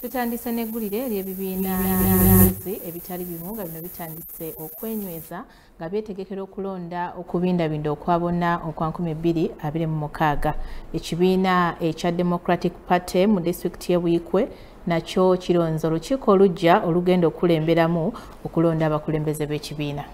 tutandise n'eggulire ery'ebibiina by'abakozi ebitali bimu nga bino bitandise okwenyweza nga byetegekera okulonda okubindabinda okwa bonna okwa 2026 ekibiina ekya democratic party mu disitulikiti y'e buikwe nakyo kironze olukiiko olujja olugenda okukulemberamu okulonda abakulembeze b'ekibiina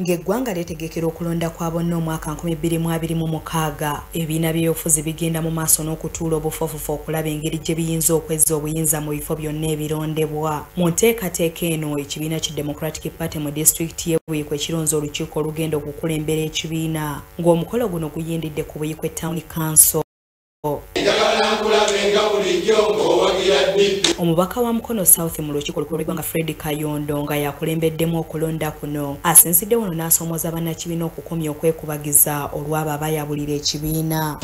ng'eggwanga lyetegekera okulonda kwa bonna omwaka 2026 ebibiina by'ebyobufuzi bigenda mu maaso n'okutuula obufofufu okulaba engeri gye biyinza okwezza obuyinza mu bifo byonna ebirondebwa mu nteekateeka eno ekibiina ki democratic party mu disitulikiti ye buyiko ekironza olukiiko olugenda okukulembera ekibiina ng'omukolo guno guyindidde ku buyiko etawuni kanso omubaka wa mukono south mu lukiiko lukulu lw'eggwanga fred kayondo nga yakulembeddemu okulonda kuno asinzidde wano n'asoomoza bannakibiina okukomya okwekubagiza olw'abo abayabulira ekibiina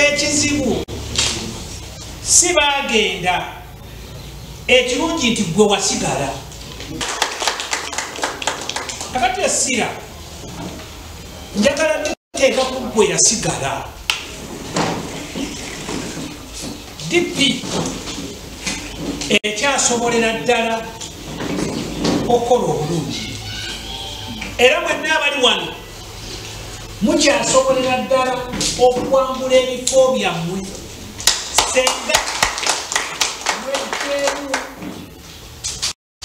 ekizibu si baagenda ekirungi nti gwe wasigala kakati essira njagala teeka ku gwe yasigala dp ekyasobolera ddala okukola obulungi era mwenna abali wano mukyasobolera ddala okuwangula ebifo byammwe senga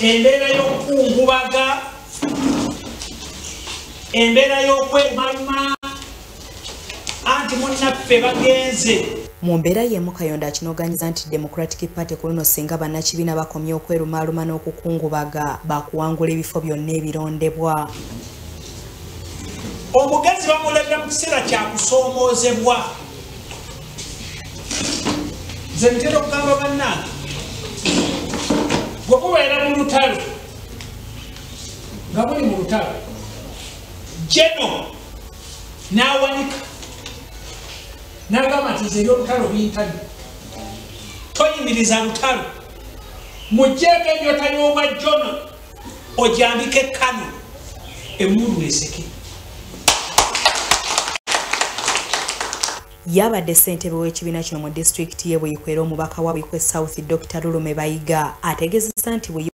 embeera y'okukungubaga embeera y'okwemaluma anti munnaffe bagenze mu mbeera y'emu kayondo akinoganyiza nti democratic party ku luno singa bannakibiina bakomye okwerumaaluma n'okukungubaga bakuwangula ebifo byonna ebirondebwa omugenzi bamulaga mu kiseera kyakusoomoozebwa nze ntera okugamba bannange bwe kubeera mu lutalo nga buli mu lutalo jeno n'awanika n'agamba nti nze ebyolutalo bintali toyimiriza lutalo mujjeeko enjota y'obwa jono ojambike kano emundu eseke Yabadde ssentebe w'ekibiina kino mu disitulikiti ye Buikwe era omubaka wa Buikwe South Dr Lulume Bayiga ategeezezza nti Buikwe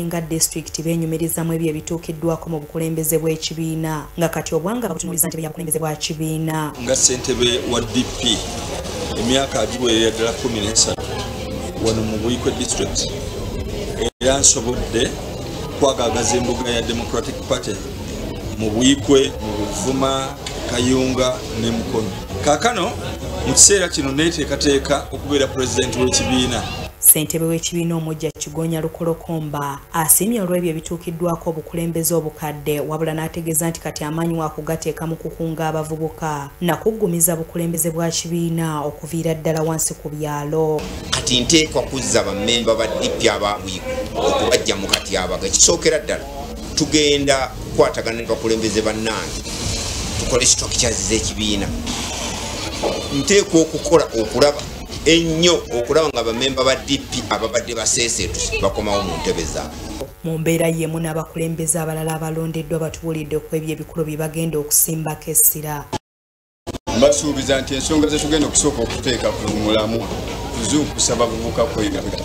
nga disitulikiti beenyumirizamu ebyo ebituukiddwako mu bukulembeze bw'ekibiina nga kati obwanga bakutunuliza ntebe ya bukulembeze bwa kibiina. Nga ssentebe wa DP emyaka agiweerera ddala kumi n'esatu wano mu Buikwe disitulikiti era nsobodde kwagagaza embuga ya Democratic Party mu buikwe mu buvuma kayunga ne mukono kakano mu kiseera kino neteekateeka okubeera pulezidenti w'ekibiina ssentebe w'ekibiina omujja kigonya lukolokomba asiimye olw'ebyo ebituukiddwako obukulembeze obukadde wabula n'ategeeza nti kati amaanyi waakugateeka mu kukunga abavubuka nakuggumiza bukulembeze bwa kibiina okuviira ddala wansi ku byalo kati nteekwa kuzza bammemba ba dipi ababwiku okubajja mu katyabaga kisookera ddala tugenda kukwatagana ne bakulembeze bannange tukole structures z'ekibiina nteekwa okukola okulaba ennyo okulaba nga bamemba ba dp ababadde baseeseetu bakomawo mu ntebe zaabwe mu mbeera yeemu n'abakulembeze abalala abalondeddwa batubuulidde ku ebyo ebikulu bye bagenda okusimbako essira mbasuubiza nti ensonga zetugenda okusooka okuteeka ku mulamu kuzuukusa bavubuka kwegabira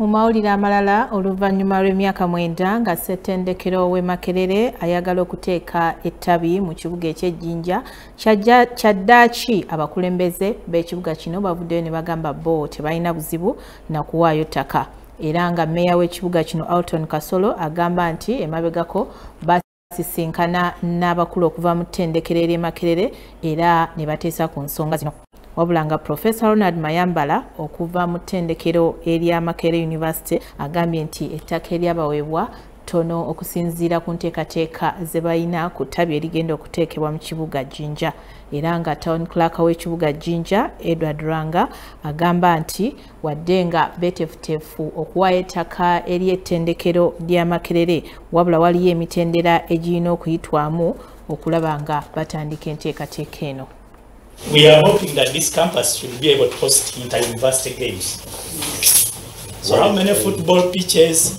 mu mawulire amalala oluvannyuma lw'emyaka mwenda nga ssettendekero w'e makerere ayagala okuteeka ettabi mu kibuga eky'ejjinja kyaddaaki abakulembeze b'ekibuga kino bavuddeyo ne bagamba bo tebalina buzibu na kuwaayo ttaka era nga meeya w'ekibuga kino alton kasolo agamba nti emabegako sisinkana n'abakulu okuva mu ttendekero ery'e Makerere era ne bateesa ku nsonga zino. Wabula nga Profesa Ronald Mayambala okuva mu ttendekero erya Makerere University agambye nti ettaka eryabaweebwa ttono okusinziira ku nteekateeka ze balina ku ttabi erigenda okuteekebwa mu kibuga Jinja era nga Town Clerk w'ekibuga Jinja Edward Ranga agamba nti wadde nga betefutefu okuwaayo ettaka eri ettendekero lya makerere wabula waliyo emitendera egirina okuyitwamu okulaba nga batandika enteekateeka eno We are hoping that this campus should be able to host inter-university games. So how many football pitches,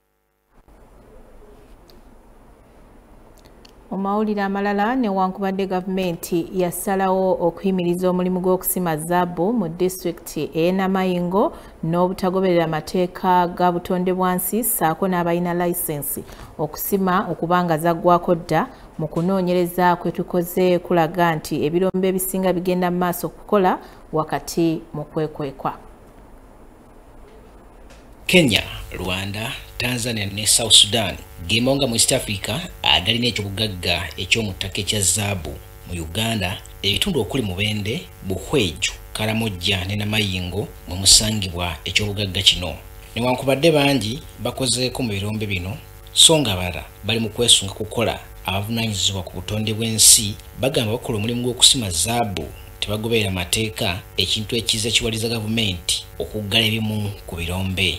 mu mawulire amalala newankubadde gavumenti yasalawo okuyimiriza omulimu gw'okusima zaabu mu disitulikiti ey'enamayingo n'obutagoberera mateeka ga butonde bwansi saako n'abalina layisensi okusima okubanga zaggwako dda mu kunoonyereza kwe tukoze kulaga nti ebirombe ebisinga bigenda mu maaso okukola wakati mu kwekwekwa kenya rwanda tanzania ne south sudan gemawunga mu east africa agalina ekyobugagga ekyomuttaka ekya zaabu mu uganda ebitundu okuli mubende buhweju karamojja ne namayingo mwe musangibwa ekyobugagga kino newankubadde bangi bakozeeko mu birombe bino so nga abalala bali mu kwesunga kukola abavunaanyizibwa ku butonde bw'ensi bagamba bakola omulimu gw'okusima zaabu tebagoberera mateeka ekintu ekiza kiwaliza gavumenti okuggala ebimu ku birombe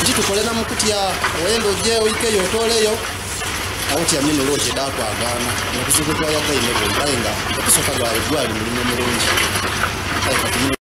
kitukolera mu kutya wenda ojja oikeyo otooleyo awo tyamye nolo okyeda akwagaana nokuzibu gwayagaine bwombaye nga okusooka gwali gwali mulimu mulungi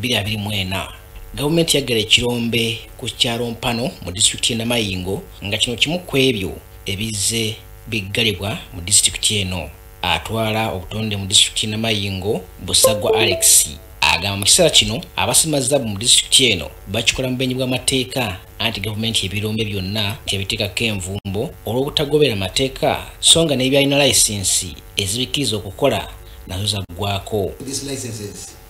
2024 gavumenti yaggala ekirombe ku kyalo mpano mu disitulikiti y'e namayingo nga kino kimu ku ebyo ebizze biggalibwa mu disitulikiti eno atwala obutonde mu disitulikiti y'e namayingo busagwa alex agamba mu kiseera kino abasima zaabu mu disitulikiti eno bakikola mu benyi bw'amateeka anti gavumenti ebirombe byonna tebiteekako envumbo olw'obutagobera amateeka so nga n'ebyalina layisinsi ezibikkiriza okukola nazo zaggwako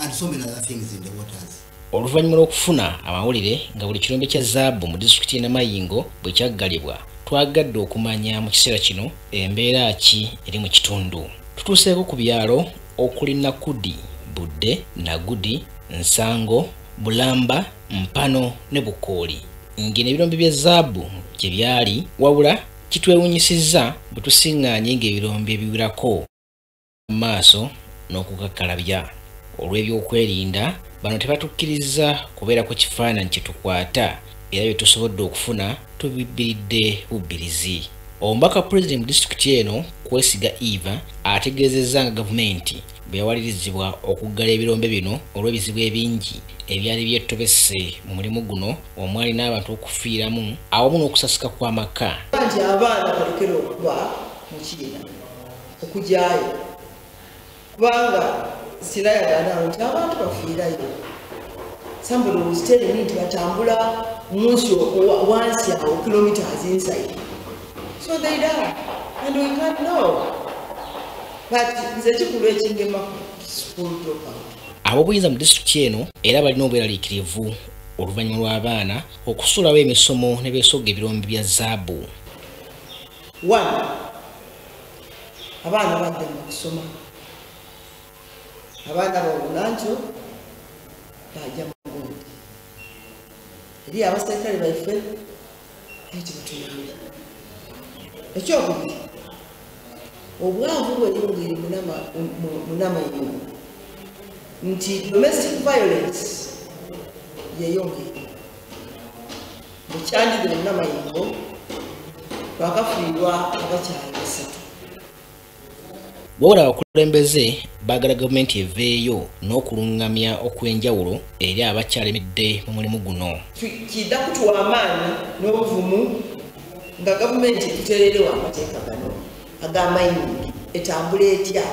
and so many other things in the waters. oluvannyuma lw'okufuna amawulire nga buli kirombe kya zaabu mu disitulikiti y'e namayingo bwe kyaggalibwa twagadde okumanya mu kiseera kino embeera ki eri mu kitundu tutuuseeko ku byalo okuli nakudi budde nagudi nsango bulamba mpano ne bukooli ng'eno ebirombe bya zaabu gye byali wabula kitwewunyisizza bwe tusiŋŋaanye ng'ebirombe ebiwerako mu maaso n'okukakkalabya olw'ebyokwerinda bano tebatukkirizza kubeera ku kifaananyi kye tukwata era bye tusobodde okufuna tubibbiridde bubbirizi omubaka pulezidenti mu disitulikiti eno kwesiga eva ategeezezza nga gavumenti bwe yawalirizibwa okuggala ebirombe bino olw'ebizibu ebingi ebyali byetobese mu mulimu guno omwali n'abantu okufiiramu awamu n'okusasika kw'amaka nti abaana balekera okuba mu kiina okugyayo kubanga sirayagana nti abantu bafiirayo somebody was telling me nti batambula munsi wansi awo kilometers inside so they die and we can't know but nze kikulu ekingema school dropout ab'obuyinza mu disitulikiti eno era balina obweraliikirivu oluvannyuma lw'abaana okusuulawo emisomo ne beesogga ebirombe bya zaabu abaana badde mu kusoma abaana bawulanjo bajja mugundi eri abaserikale baife ekyo batuyamba ekyokubiri obwavu bweyongeri munamayingo nti domestic violence yeyongeri mukyalire namayingo bakafiirwa abakyali basatu wabula abakulembeze baagala gavumenti eveeyo n'okulungamya okw'enjawulo eri abakyalemedde mu mulimu guno kidda kutuwa amaanyi n'obuvumu nga gavumenti tuteererewo amateeka gano ag'amayingi etambula etya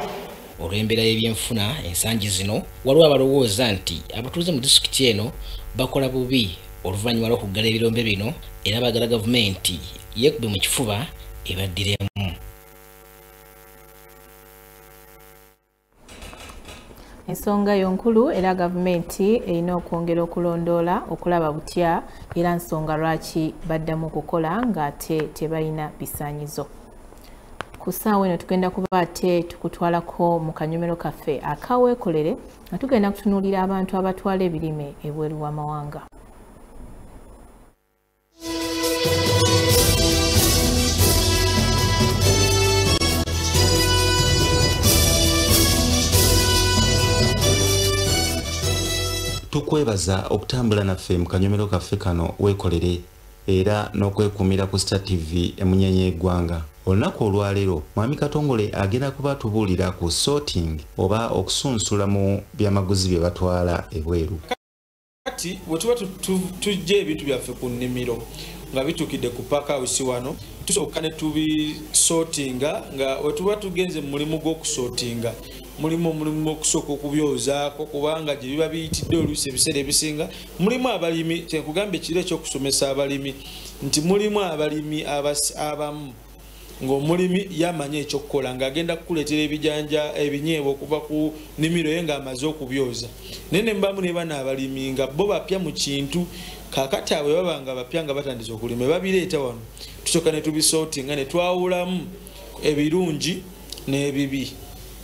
olw'embeera y'ebyenfuna ensangi zino waliwo abalowooza nti abatuuze mu disitulikiti eno bakola bubi oluvannyuma lw'okuggala ebirombe bino era bagala gavumenti yekube mu kifuba ebaddiremu ensonga yo nkulu era gavumenti erina okwongera okulondoola okulaba butya era nsonga lwaki baddamu okukola ng'ate tebalina bisaanyizo ku ssaawa eno tugenda kuba ate tukutwalako mu kanyomero kaffe akaweekolere nga tugenda kutunuulira abantu abatwala ebirime ebweru w'amawanga tukwebaza okutambula naffe mu kanyomero kaffe kano weekolere era n'okwekuumira ku star tv emunyenye y'eggwanga olunaku olwaleero mwami katongole agenda kuba atubuulira ku sorting oba okusunsula mu byamaguzi bye batwala ebweru kati wetuba tujja ebintu byaffe ku nnimiro nga bitukidde ku pakausi wano tusooka ne tubisotinga nga wetuba tugenze mu mulimu gw'okusotinga mulimu omulimu okusooka okubyozaako kubanga gye biba biyitidde oluusi ebiseera ebisinga mulimu abalimi kyenkugamba ekiro ekyokusomesa abalimi nti mulimu abalimi abamu ngaomulimi yamanyi ekyokukola ngaagenda kukuleetera ebijanja ebinyeebwa okuva ku nimiro ye ngaamaze okubyoza naye nembamu ne bana abalimi nga bo bapya mu kintu kakati abwe baba nga bapya nga batandise okulima babireeta wano tusooka ne tubisooti nga netwawulamu ebirungi n'ebibi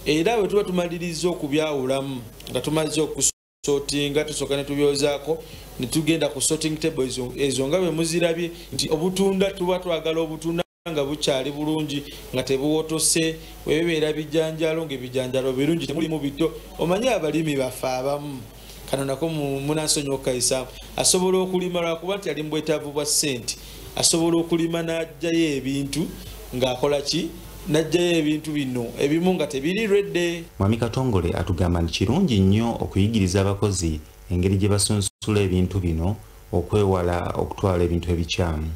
era bwe tuba tumaliriza okubyawulamu nga tumaze okus sotinga tusooka ne tubyozaako ne tugenda ku sorting table ezo nga bwe muzirabye nti obutunda tuba twagala obutunda nga bukyali bulungi nga tebuwotose webibeera bijanjalo ngaebijanjalo birungi temulimu bito omanyi abalimi baffe abamu kano nako munansonyi okukayisa asobola okulima lwakuba nti ali mu bwetaavu bwa ssente asobola okulima n'ajjayo ebintu ng'akola ki najjayo ebintu bino ebimu nga tebiri redde mwami katongole atugamba nti kirungi nnyo okuyigiriza abakozi engeri gye basunsula ebintu bino okwewala okutwala ebintu ebikyamu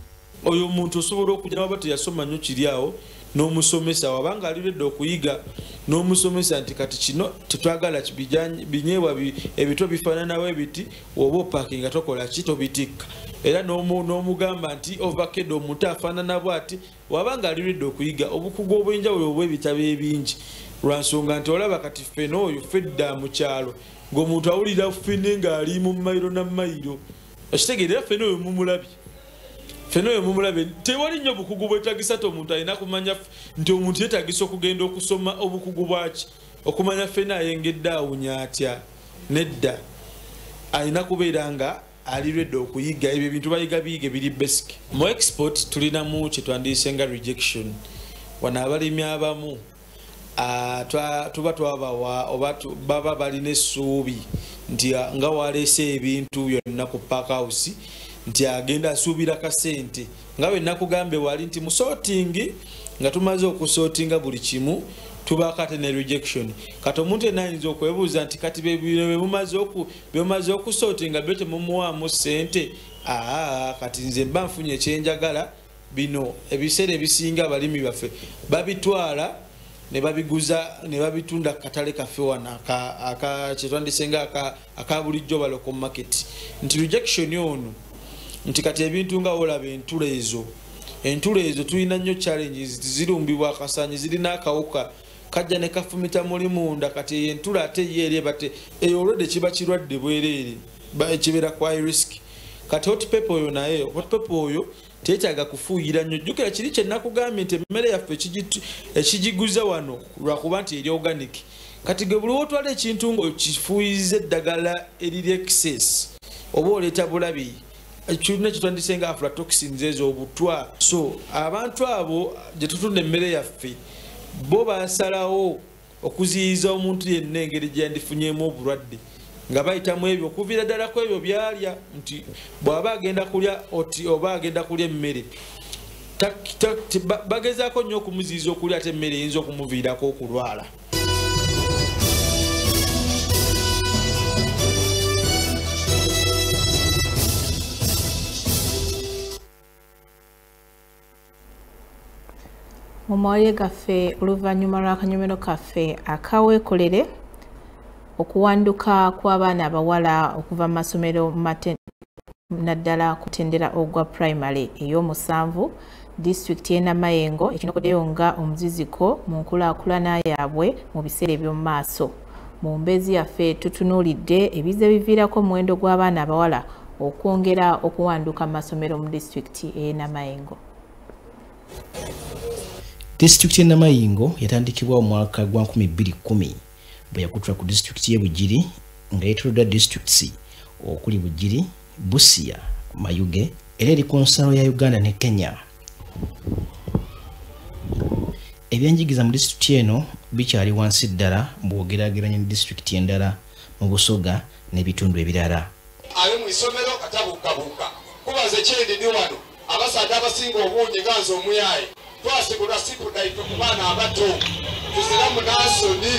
oyo omuntu osobola okuja nawaba teyasoma nnyo kiri awo n'omusomesa wabanga aliredde okuyiga n'omusomesa nti kati kino tetwagala binyeebwa ebito bifaananawo ebiti oba opakinga tokola ki tobitikka era n'omugamba nti ovakeda omuntu afaanana bwati waba nga aliridde okuyiga obukugu obw'enjawulo obw'ebitabo ebingi lwa nsonga nti olaba kati ffena oyo fedda mu kyalo ng'omuntu awulira fene ng'ali mu mayiro na mayiro okitegeera era ffena oyo mumulabye ffena oyo mumulabye tewali nnyo obukugu bwetagisa ti omuntu alina kumanya nti omuntu yetagisa okugenda okusoma obukugu bwaki okumanya ffena ayengedde awunya atya nedda alina kubeera nga ali redi okuyiga ebyo ebintu bayiga biyige biri basic mu export tulinamu kyetwandiyise nga rejection wano abalimi abamu ah, tuba twabawa oba baba balina essuubi nti ah, nga waleese ebintu byonna ku park house nti agenda asuubira kasente nga bwe nakugambye wali nti mu sorting nga tumaze okusortinga buli kimu tubaako ate ne rejection kati omuntu yena ayinza okwebuuza nti kati bemumaze okusortinga byo temumuwaamu sente aa kati nze mba nfunye ekyenjagala bino ebiseera ebisinga abalimi baffe babitwala nebabiguza nebabitunda kukatale kaffe wano kyetwandisenga aka, aka akabulijjo baloko market nti rejection ono nti kati ebintu nga olaba entulo ezo entulo ezo tulina nnyo challenges zirumbibwa akasanyi zirina akawuka kajja ne kafumita muli munda kati eyo entulo ate ye eri ebate eyo olwedde kiba kirwadde bwereere kibeera kwa risk kati hotpepe oyo naye hotpepe oyo tetaaga kufuuyira nnyo jjukira kiri kye nakugambye nti emmere yaffe ekigiguza wano lwakuba nti eri organic kati ge buli wotwala ekintu ngaokifuuyiza eddagala eriri excess oba oleeta bulabi kirina kitwandise nga aflatoxins ezo obutwa so abantu abo gye tutunda emmere yaffe bo basalawo okuziyiza omuntu yenna engeri gyendifunyemu obulwadde nga bayita mu ebyo okuviira ddala ku ebyo byalya nti bw'aba agenda kulya oti oba agenda kulya emmere bagezaako nnyo okumuziyiza okulya ate emmere eyinza okumuviirako okulwala mu mawulire gaffe oluvannyuma lw'akanyomero kaffe akaweekolere okuwanduka kw'abaana abawala okuva mu masomero naddala kutendera ogwa primary ey'omusanvu disitulikiti y'e namayengo ekinokoddeyo nga omuziziko mu nkulaakulana yaabwe mu biseera eby'omu maaso mu mbeezi yaffe tutunuulidde ebize biviirako omuwendo gw'abaana abawala okwongera okuwanduka mu masomero mu disitulikiti ey'enamayingo disitulikiti y'enamayingo yatandikibwa omwaka gwa 210 bwe yakutula ku disitulikiti y'e bugiri nga yetolodda disitulikiti okuli bugiri Busia, Mayuge, era eri ku nsalo ya Uganda ne Kenya. Ebyenjigiza mu disitulikiti eno bikyali wansi ddala bw'ogerageranya ne disitulikiti endala mu Busoga n'ebitundu ebirala. Ali mu isomero atabuukabuuka kuba nze kyendidi wano abasaadde abasinga obungi nga nze omuyaaye twasibulwa sipudaife ku baana abato tuzira munansoni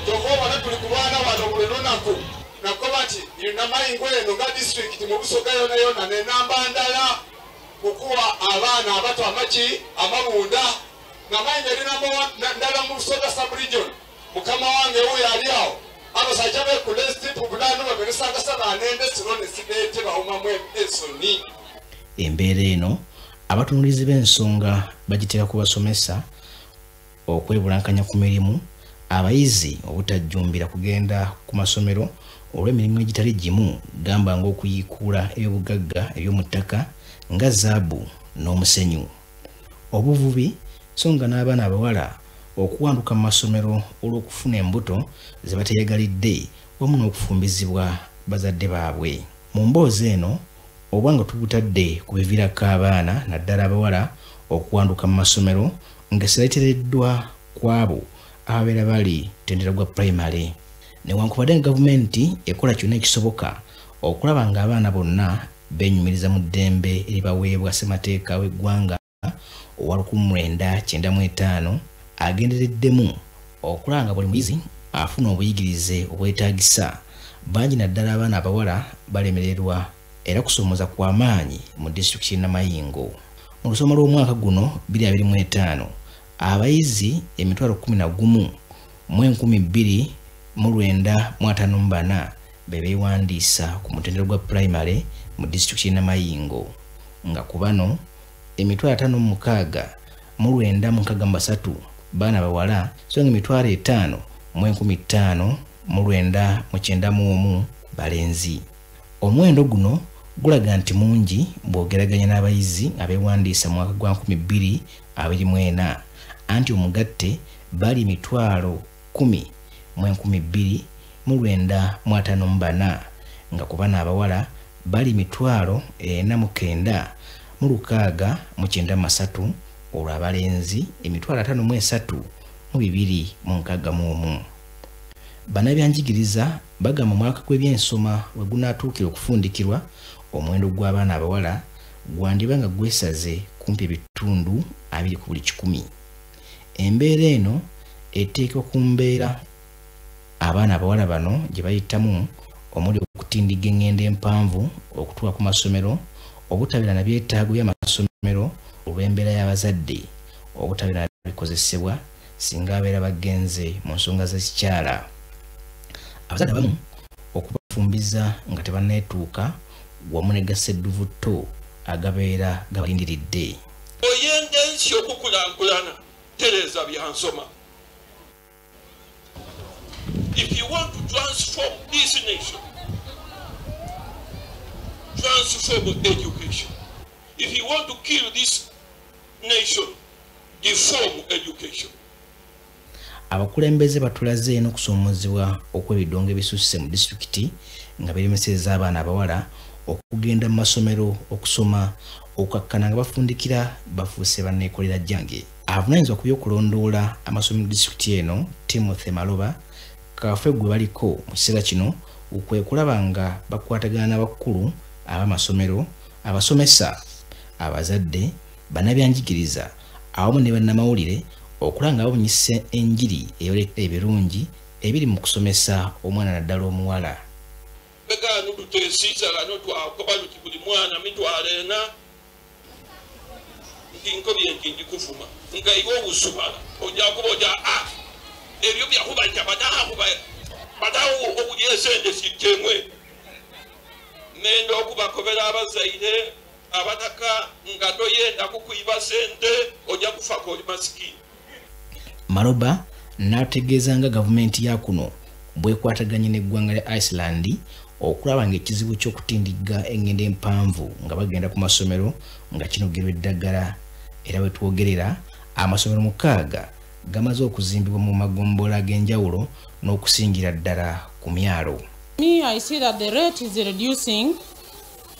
kyova obona tuli kulwana wano buli lunaku nakuba nti yunamayingo eno nga disitulikiti mu busoga yona yona nenamba ndala kukuwa abaana abato amaki amabunda nga mayingo erinamba ndala mu busoga subregion mukama wange wuyo ali awo abasajja bekula esitipu bunaanu baberesangasa banende siro ne sideete bawumamu ensoni embeera eno abatunulizi b'ensonga bagiteeka ku basomesa okwebulankanya ku mirimu abayizi obutajjumbira kugenda ku masomero olw'emirimu egitali gimu gamba ng'okuyiikuula ebyobugagga eby'omu ttaka nga zaabu n'omusenyu obuvubi so nga n'abaana abawala okuwanduka mu masomero olw'okufuna embuto ze bateeyagalidde wamu n'okufumbizibwa bazadde baabwe mu mboozi eno oba nga tubutadde ku biviirako abaana naddala abawala okuwanduka mu masomero nga siretereddwa kwabo ababeera bali tendera gwa primary newankubadde nga gavumenti ekola kyonna ekisoboka okulaba ng'abaana bonna benyumiriza mu ddembe eribaweebwa ssemateeka w'eggwanga owa 1995 agendereddemu okulaba nga buli muyizi afuna obuyigirize obwetaagisa bangi naddala abaana abawala balemererwa era kusoomoza kwa maanyi mu disitulikiti y'enamayingo mu lusoma lw'omwaka guno 25 abayizi emitwalo 11 mu 2 24 be beewandiisa ku mutendero gwa pulayimale mu disitulikiti y'e namayingo nga ku bano emitwalo ataano mu mukaaga mu lwenda mu nkaaga mu basatu baana bawala so nga emitwalo etaano mu enkumi ttaano mu lwenda mu kyenda mu omu balenzi omuwendo guno gulaga nti mungi bw'ogeraganya n'abayizi abeewandiisa mu mwaka gwa 224 anti omugatte bali emitwalo kumi mu enkumi bbiri mu lwenda mu ataano mu bana nga ku bana abawala bali mitwalo ena mu kenda mu lukaaga mu kyenda masatu olwo abalenzi emitwalo ataano mu esatu mu bibiri mu nkaaga mu omu banabyanjigiriza bagamba omwaka gw'ebyensoma we gunaatuukira okufundikirwa omuwendo gw'abaana abawala gwandiba nga gwesaze kumpi ebitundu abiri ku buli kikumi embeera eno eteeka ku mbeera abaana abawala bano gye bayitamu omuli okutindigga eng'endo empanvu okutuuka ku masomero obutabeera na byetaago by'amasomero olw'embeera y'abazadde obutabeera na bikozesebwa singa abeera bagenze mu nsonga z'ekikyala abazadde abamu okubafumbiza nga tebanneetuuka wamu ne gasedduvu tto agabeera gabalindiridde oyenda ensi okukulankulana tereeza byansoma if you want to transform this nation transform education if you want to kill this nation deform education abakulembeze batulaze n'okusoomoozebwa okw'ebidongo ebisusse mu disitulikiti nga biremeseza abaana abawala okugenda mu masomero okusoma okukakkana nga bafundikira bafuuse banneekolera jjange avunanyizibwa ku by'okulondoola amasomero disitulikiti eno timothy maloba kafe gwe baliko mu kiseera kino kwe kulaba nga bakwatagana n'abakkulu ab'amasomero abasomesa abazadde Bannabyanjigiriza awamu ne bannamawulire okulaba nga babunyisa enjiri eyoleka ebirungi ebiri mu kusomesa omwana naddala omuwala. Begano tutesiza gano twakoba luti buli mwana mitwalo ena nti nkobi enti ndi kuvuma nga iwe obusumala ojja kuba ojja a ah, ebyo byakuba nti abadahaku badawo obulyesende sitemwe nenda okubakobera abazaire abataka nga toyenda kukuyiba sente ojja kufa koli masikini maloba n'ategeeza nga gavumenti ya kuno bwekwataganye n'eggwanga lya iceland okulaba nga ekizibu ky'okutindigga engendo empanvu nga bagenda ku masomero nga kinogerwa eddagala era wetwogerera amasomero mukaaga gamaze okuzimbibwa mu magombolola ag'enjawulo n'okusingira ddala ku myalo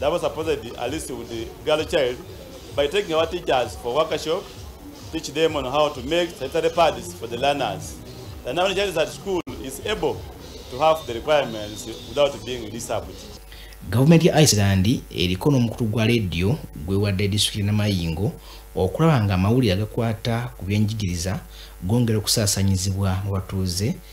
That was supposed to at least with the girl child by taking our teachers for workshop, teach them on how to make sanitary pads for the learners. The number of child at school is able to have the requirements without being disabled. gavumenti ya iceland eriko n'omukutu gwa leediyo gwewadde disitulikiti namayingo okulaba nga amawulire agakwata ku byenjigiriza gongera okusaasanyizibwa mu batuuze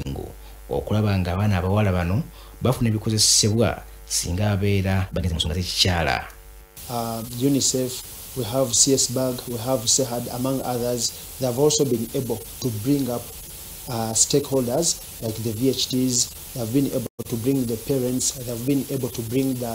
obwengu okulaba nga abaana abawala bano bafuna ebikozesebwa singa abeera bagenze mu nsonga z'ekikyala uh, unicef we have csburg we have sehad among others they have also been able to bring up uh, stakeholders like the vhts they have been able to bring the parents they have been able to bring the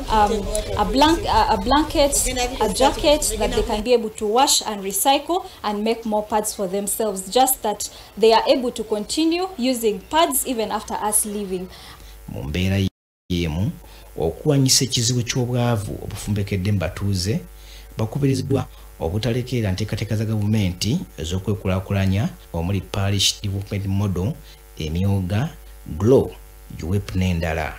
um, a, blank, uh, a blanket, a jacket that they can be able to wash and recycle and make more pads for themselves. Just that they are able to continue using pads even after us leaving. mu mbeera y'emu okulwanyisa ekizibu ky'obwavu obufumbekedde mu batuuze bakubiriziddwa obutalekeera nteekateeka za gavumenti ez'okwekulaakulanya omuli parish development model emyooga glow uwep n'endala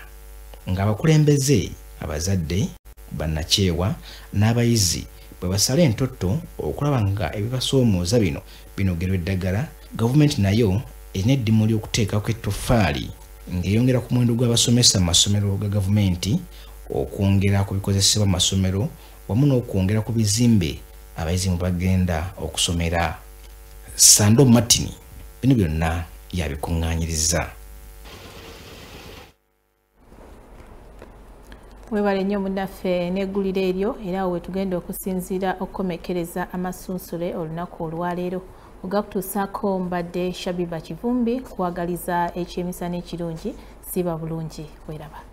ng'abakulembeze abazadde bannakyewa n'abayizi bwe basala entotto okulaba nga ebibasoomooza bino binogerwa eddagala gavumenti nayo erina eddimu ly'okuteekako ettoffaali ng'eyongera ku muwendo gw'abasomesa mu masomero ga gavumenti okwongera ku bikozesebwa mu masomero wamu n'okwongera ku bizimbe abayizi mu bagenda okusomera sando martin bino byonna yabikuŋŋaanyiriza webale nnyo munaffe n'eggulire eryo era awo wetugenda okusinziira okukomekkereza amasunsule olunaku olwaleero ogakutuusaako mbadde shabiba kivumbi kuwagaliza ekyemisana ekirungi siba bulungi weraba